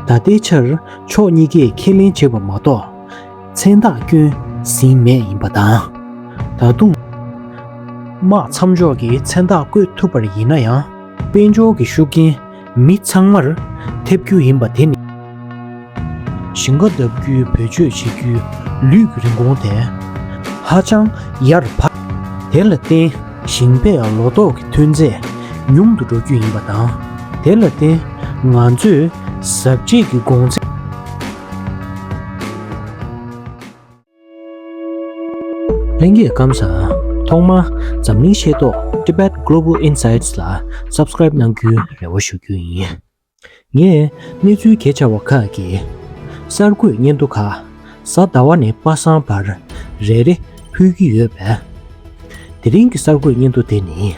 ད་ལྟའི་ཆར་ཕྱོགས་གཉིས་ཀས་ཁས་ལེན་བྱས་པ་མ་གཏོགས། མཚན་རྟགས་སྐྱོན་ཟིན་མེད་ཡིན་པ་དང། ད་དུང། དམག་མཚམས་འཇོག་གི་མཚན་རྟགས་བཀོད་ཐུབ་པར་ཡིན་ན་ཡང། དཔལ་འབྱོར་གྱི་ཤུགས་རྐྱེན་མི་ཚང་མར་ཐེབས་རྒྱུ་ཡིན་པ་དེ་ནི། ཞིང་ཁ་གདབ་རྒྱུའི་བེད་སྤྱོད་བྱེད་རྒྱུའི་ལུས་ཀྱི་རིན་གོང་དེ་ཧ་ཅང་ཡར་འཕར། དེ་ལ་བརྟེན། ཞིང་པས་ལོ་ཏོག་གི་ཐོན་རྫས་ཉུང་དུ་འགྲོ་རྒྱུ་ཡིན་པ་དང། དེ་ལ་བརྟེན་ང་ཚོས་གཟབ་རྒྱས་ཀྱི་དགོང་ཚད། ལྷན་རྒྱས་སྐམ་ས། ཐོག་མར་འཛམ་གླིང་ཤེས་རྟོགས Tibet Global Insights ལ Subscribe གནང་རྒྱུའི་རེ་བ་ཞུ་རྒྱུ་ཡིན། ངས་གནས་ཚུལ་གས་ཆ་བ་ཁག་གི་གསར་འགོད་སྙན་ཐོ་ཁ་གསལ་ལྟ་བ་ནི་པ་སངས་པར་རེ་རེ་ཕུལ་གྱི་ཡོད་པས། དེ་རིང་གི་གསར་འགོད་སྙན་ཐོ་དེ་ནི།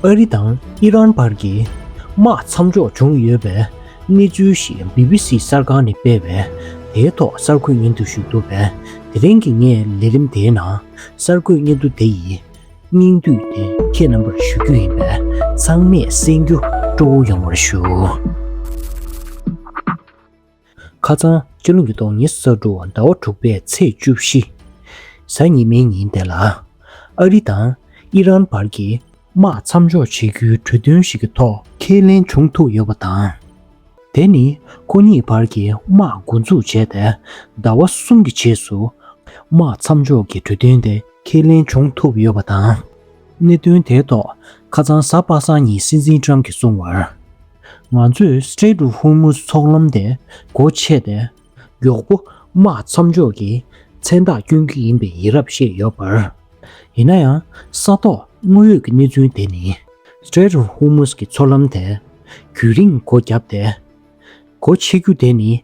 ཨ་རི་དང་ཨི་རན་བར་གྱི་དམག་མཚམས་འཇོག་བྱུང་ཡོད་པའི་གནས་ཚུལ་ཞིག་བྷི་བྷི་སི་གསར་ཁང་ནས་སྤེལ་བས་དེའི་ཐོག་གསར་འགོད་སྙན་ཐོ་ཞུས་འདུག་པས་དེ་རིང་གི་ངའི་ལས་རིམ་དེའི་ནང་གསར་འགོད་སྙན་ཐོ་དེ་ཡིས་སྙིང་བསྡུས་ཏེ་ཁྱེད་རྣམ་པར་ཞུ་རྒྱུ་ཡིན་པས་ཚང་མས་གསན་རྒྱུ་སྤྲོ་བོ་ཡོང་བར་ཞུ། ཁ་ཚང་སྤྱི་ལོ་ཉིས་སྟོང་ཉེར་གསར་དྲུག་ཟླ་བ་དྲུག་པའི་ཚེས་བཅུ་བཞི། གཟའ་ཉི་མའི་ཉིན་དེ་ལ། ཨ་རི་དང་ཨི་རན་བར་གྱི། དམག་མཚམས་འཇོག་བྱེད་རྒྱུའི་གྲོས་མཐུན་ཞིག་གི་ཐོག་ཁས་ལེན་བྱུང་ཐུབ་ཡོད་པ་དང། དེ་ནི་ཁོ་གཉིས་བར་གྱི་དམག་འགོ་འཛུགས་བྱས་ཏེ་ཟླ་བ་གསུམ་གྱི་རྗེས་སུ་དམག་མཚམས་འཇོག་གི་གྲོས་མཐུན་དེ་ཁས་ལེན་བྱུང་ཐུབ་ཡོད་པ་དང། གནད་དོན་དེའི་ཐོག་ཁ་ཚང་གཟའ་པ་སངས་ཉིན་སྲིད་འཛིན་ཀྲང་གིས་གསུངས་བར། ང་ཚོས Strait of Hormuz འཚོགས་ལམ་དེ་སྒོ་ཕྱེ་སྟེ། མགྱོགས་པོ་དམག་མཚམས་འཇོག་གི་མཚན་རྟགས་བསྐྱོན་རྒྱུ་ཡིན་པའི་ཡིན་རབས་བཤད་ཡོད་པར། ཡིན་ན་ཡང་ས་ཐོག་དངོས་ཡོད་ཀྱི་གནས་ཚུལ་དེ་ནི། Strait of Hormuz གི་འཚོགས་ལམ་དེ་དུས་རིང་སྒོ་བརྒྱབ་སྟེ། སྒོ་ཕྱེ་རྒྱུ་དེ་ནི་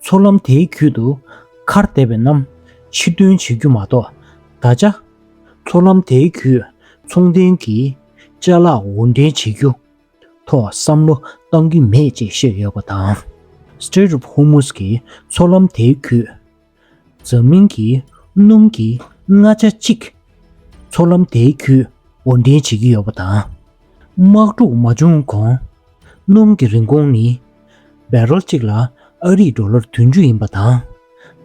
ཚོགས་ལམ་དེའི་རྒྱུད་དུ། མཁར་འདེབས་པའི་རྣམ་ཕྱིར་སྟོན་བྱེད་རྒྱུ་མ་གཏོགས་བརྡ་བྱ། ཚོགས་ལམ་དེའི་རྒྱུད་མཚུངས་ལྡན་གྱི། བཅའ་ལག་འུར་འདྲེན་བྱེད་རྒྱུ་ཐོག་བསམ་བློ་གཏང་གི་མེད་ཅེས་བཤད་ཡོད་པ་དང། Strait of Hormuz གྱི་ཚོགས་ལམ་དེའི་རྒྱུད། འཛམ་གླིང་གི་སྣུམ་གྱི་ལྔ་ཆ་གཅིག། ཚོགས་ལམ་དེའི་རྒྱུད་འུར་འདྲེན་བྱེད་ཀྱི་ཡོད་པ་དང། དམག་འཁྲུག་མ་བྱུང་གོང། སྣུམ་གྱི་རིན་གོང་ནི། བའི་རོ་གཅིག་ལ་ཨ་རིག་འགྲོ་ལོར་དུས་མཇུག་ཡིན་པ་དང།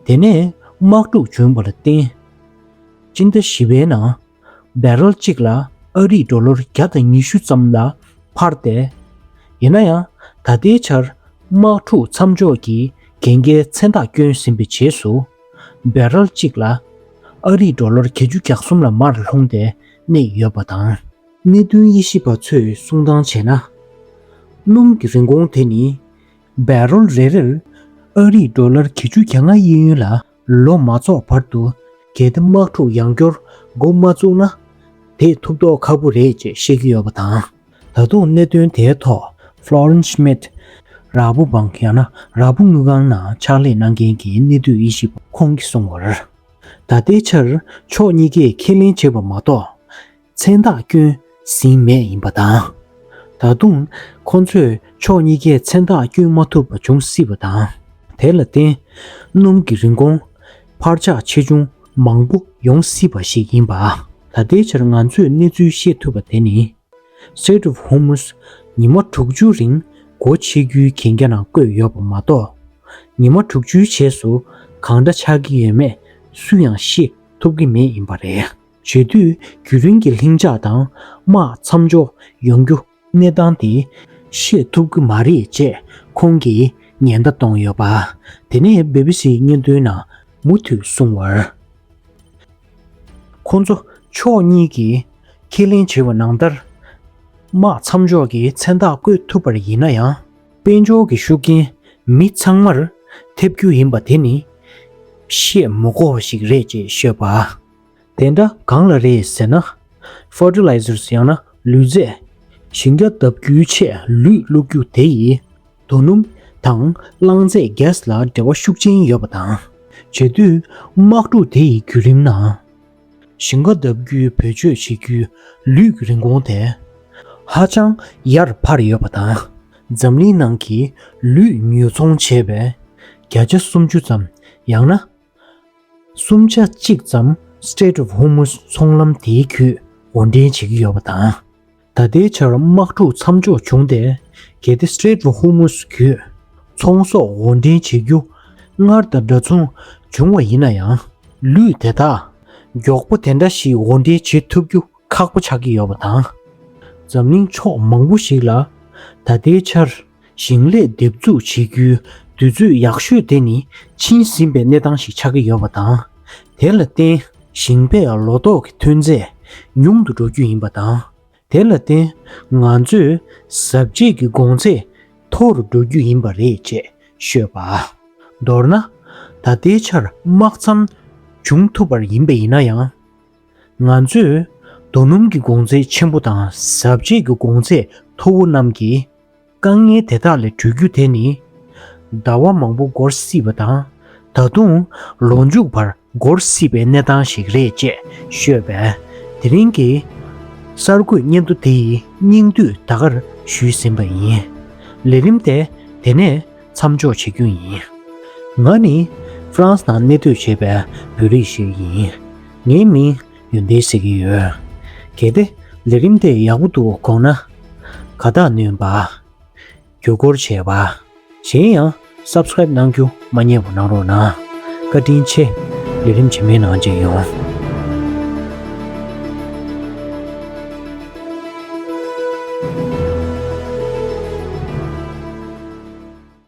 དེ་ནས་དམག་འཁྲུག་བྱུང་བ་ལ་བརྟེན། སྤྱི་ཟླ་བཞི་པའི་ནང། བའི་རོ་གཅིག་ལ་ཨ་རིག་འགྲོ་ལོར་བརྒྱ་དང་ཉི་ཤུ་ཙམ་ལ་འཕར་ཏེ། ཡིན་ན་ཡང་ད་ལྟའི་ཆར་དམག་འཁྲུག་མཚམས་འཇོག་གི་གན་རྒྱའི་མཚན་རྟགས་བསྐྱོན་ཟིན་པའི་རྗེས་སུ། བའི་རོ་གཅིག་ལ་ཨ་རིག་འགྲོ་ལོར་གྱ་གཅུ་གྱ་གསུམ་ལ་མར་ལྷུང་སྟེ་གནས་ཡོད་པ་དང། གནད་དོན་དབྱེ་ཞིབ་པ་ཚོས་གསུང་སྟངས་བྱས་ན། སྣུམ་གྱི་རིན་གོང་དེ་ནི་བའི་རོལ་རེ་རེར་ཨ་རིས་ཏྲོ་ལར་གྱི་ཆུ་གྱ་ལྔ་དབྱིན་ཡུལ་ལ་ལོ་མ་རྫོགས་བར་དུ་གལ་ཏེ་དམག་འཁྲུག་ཡང་སྐྱོར་འགོ་མ་བཙུགས་ན། དེས་ཐུབ་མདོག་ཁ་པོ་རེད་ཅེས་བཤད་ཀྱི་ཡོད་པ་དང། ད་དུང་གནད་དོན་དེའི་ཐོག Florence Schmidt། ར་ཕོ་འབངས་ཡང་ན་ར་ཕོ་དངུལ་ཁང་ནང་ཕྱག་ལས་གནང་མཁན་གྱི་གནས་སྡོད་དབྱེ་ཞིབ་པ་ཁོང་གིས་གསུངས་བར། ད་ལྟའི་ཆར་ཕྱོགས་གཉིས་ཀས་ཁས་ལེན་བྱས་པ་མ་གཏོགས། མཚན་རྟགས་སྐྱོན་ཟིན་མེད་ཡིན་པ་དང། ད་དུང་ཁོ་ཚོས་ཕྱོགས་གཉིས་ཀའི་མཚན་རྟགས་བསྐྱོན་མ་ཐུབ་པ་འབྱུང་སྲིད་པ་དང། དེ་ལ་བརྟེན་སྣུམ་གྱི་རིན་གོང་འཕར་ཆག་ཆེ་ཆུང་མང་པོ་ཡོང་སྲིད་པ་ཞིག་ཡིན་པ། ད་ལྟའི་ཆར་ང་ཚོས་གནས་ཚུལ་ཤེས་ཐུབ་པ་དེ་ནི། Strait of Hormuz། ཉི་མ་དྲུག་ཅུའི་རིང་སྒོ་ཕྱེ་རྒྱུའི་གན་རྒྱ་ནང་བཀོད་ཡོད་པ་མ་གཏོགས། ཉི་མ་དྲུག་ཅུའི་རྗེས་སུ་གང་འདྲ་ཆགས་ཀྱི་ཡོད་མེད་སུ་ཡང་ཤེས་ཐུབ་ཀྱི་མེད་ཡིན་པ་རེད། བརྗོད་དུས་རྒྱུན་རིང་གི་ལྷིང་འཇགས་དང་དམག་མཚམས་འཇོག་ཡོང་རྒྱུ། གནས་སྟངས་དེ་ཤེས་ཐུབ་ཀྱི་མ་རེད་ཅེས་ཁོང་གིས་ཉེན་བརྡ་གཏོང་ཡོད་པ། དེ་ནས་སྦི་སྦི་སིའི་སྙན་ཐོའི་ནང་མུ་མཐུད་གསུངས་བར། ཁོང་ཚོ་ཕྱོགས་གཉིས་ཀྱིས་ཁས་ལེན་བྱས་པ་ནང་ལྟར། དམག་མཚམས་འཇོག་གི་མཚན་རྟགས་བཀོད་ཐུབ་པར་ཡིན་ན་ཡང། དཔལ་འབྱོར་གྱི་ཤུགས་རྐྱེན་མི་ཚང་མར་ཐེབས་རྒྱུ་ཡིན་པ་དེ་ནི། བཤད་མི་གོ་བ་ཞིག་རེད་ཅེས་ཤོད་པ། དེ་འདྲ་གང་ལ་རེད་ཟེར་ན། Fertilizers ཡང་ན་ལུད་རྫས། ཞིང་རྒྱ་བརྡབ་རྒྱུའི་ཆེད་ལུད་བླུགས་རྒྱུ་དེ་ཡིས། དོ་སྣུམ་དང་རླངས་རྫས Gas ལ་འབྲེལ་བ་ཤུགས་ཆེན་ཡོད་པ་དང། བྱེད་དུས་དམག་འཁྲུག་དེ་ཡི་བརྒྱུད་རིམ་ནང། ཞིང་རྒྱ་བརྡབ་རྒྱུའི་བེད་སྤྱོད་བྱེད་རྒྱུའི་ལུད་ཀྱི་རིན་གོང་དེ། ཧ་ཅང་ཡར་འཕར་ཡོད་པ་དང། འཛམ་གླིང་ནང་གི་ལུད་ཉོ་ཚོང་བྱེད་པའི་བརྒྱ་ཆ་སུམ་ཅུ་ཙམ་ཡང་ན། གསུམ་ཆ་གཅིག་ཙམ Strait of Hormuz ཚོང་ལམ་དེའི་ཁུལ་འོར་འདྲེན་བྱེད་ཀྱི་ཡོད་པ་དང། ད་ལྟའི་ཆར་དམག་འཁྲུག་མཚམས་འཇོག་བྱུང་སྟེ་གལ་ཏེ Strait of Hormuz ཁུལ་ཚོང་ཟོག་འོར་འདྲེན་བྱེད་རྒྱུ་སྔར་དང་འདྲ་མཚུངས་བྱུང་བ་ཡིན་ན་ཡང་ལུད་དེ་དག་མགྱོགས་པོ་དེ་འདྲ་ཞིག་འོར་འདྲེན་བྱེད་ཐུབ་རྒྱུ་ཁག་པོ་ཆགས་ཀྱི་ཡོད་པ་དང། འཛམ་གླིང་ཕྱོགས་མང་པོ་ཞིག་ལ་ད་ལྟའི་ཆར་ཞིང་ལས་འདེབས་འཛུགས་བྱེད་རྒྱུའི་དུས་ཚོད་ཡག་ཤོས་དེ་ནི་ཕྱིན་ཟིན་པའི་གནས་སྟངས་ཤིག་ཆགས་ཀྱི་ཡོད་པ་དང། དེ་ལ་བརྟེན་ཞིང་པས་ལོ་ཏོག་གི་ཐོན་ཚད་ཉུང་དུ་འགྲོ་རྒྱུ་ཡིན་པ་དང། དེ་ལ་བརྟེན་ང་ཚོས་གཟབ་རྒྱས་ཀྱི་དགོང་ཚད་མཐོ་རུ་འགྲོ་རྒྱུ་ཡིན་པ་རེད་ཅེས་ཤོད་པ། མདོར་ན། ད་ལྟའི་ཆར་དམག་མཚམས་བྱུང་ཐུབ་པར་ཡིན་པ་ཡིན་ན་ཡང། ང་ཚོས་རྡོ་སྣུམ་གྱི་དགོང་ཚད་ཆེན་པོ་དང་གཟབ་རྒྱས་ཀྱི་དགོང་ཚད་མཐོ་བོ་རྣམས་ཀྱིས། དཀའ་ངལ་དེ་དག་ལས་གྲོལ་རྒྱུ་དེ་ནི། ཟླ་བ་མང་པོ་འགོར་སྲིད་པ་དང། ད་དུང། ལོ་མཇུག་བར་འགོར་སྲིད་པའི་གནས་སྟངས་ཤིག་རེད་ཅེས་ཤོད་པས། དེ་རིང་གི། གསར་འགོད་སྙན་ཐོ་དེ་ཡི་སྙིང་བསྡུས་ད་གར་ཞུས་ཟིན་པ་ཡིན། ལས་རིམ་དེ་དེ་ནས་མཚམས་འཇོག་བྱེད་རྒྱུ་ཡིན། ང་ནི་ཧྥ་རན་སི་ནང་གནས་སྡོད་བྱེད་པའི་བོད་རིགས་ཤིག་ཡིན། ངའི་མིང་ཡོན་ཏན་སྲིད་ཀྱི་ཡོན། གལ་ཏེ་ལས་རིམ་དེ་ཡག་པོ་འདུག་དགོངས་ན། ཁ་བཏགས་བསྣུན་པ། བརྒྱུད་སྐོར་བྱེད་པ། གཞན་ཡང Subscribe གནང་རྒྱུ་མ་རྙེད་པ་གནང་རོགས་གནང། བཀའ་དྲིན་ཆེ། ལས་རིམ་ཇེ་མི་ནང་ཅིག་ཡོང།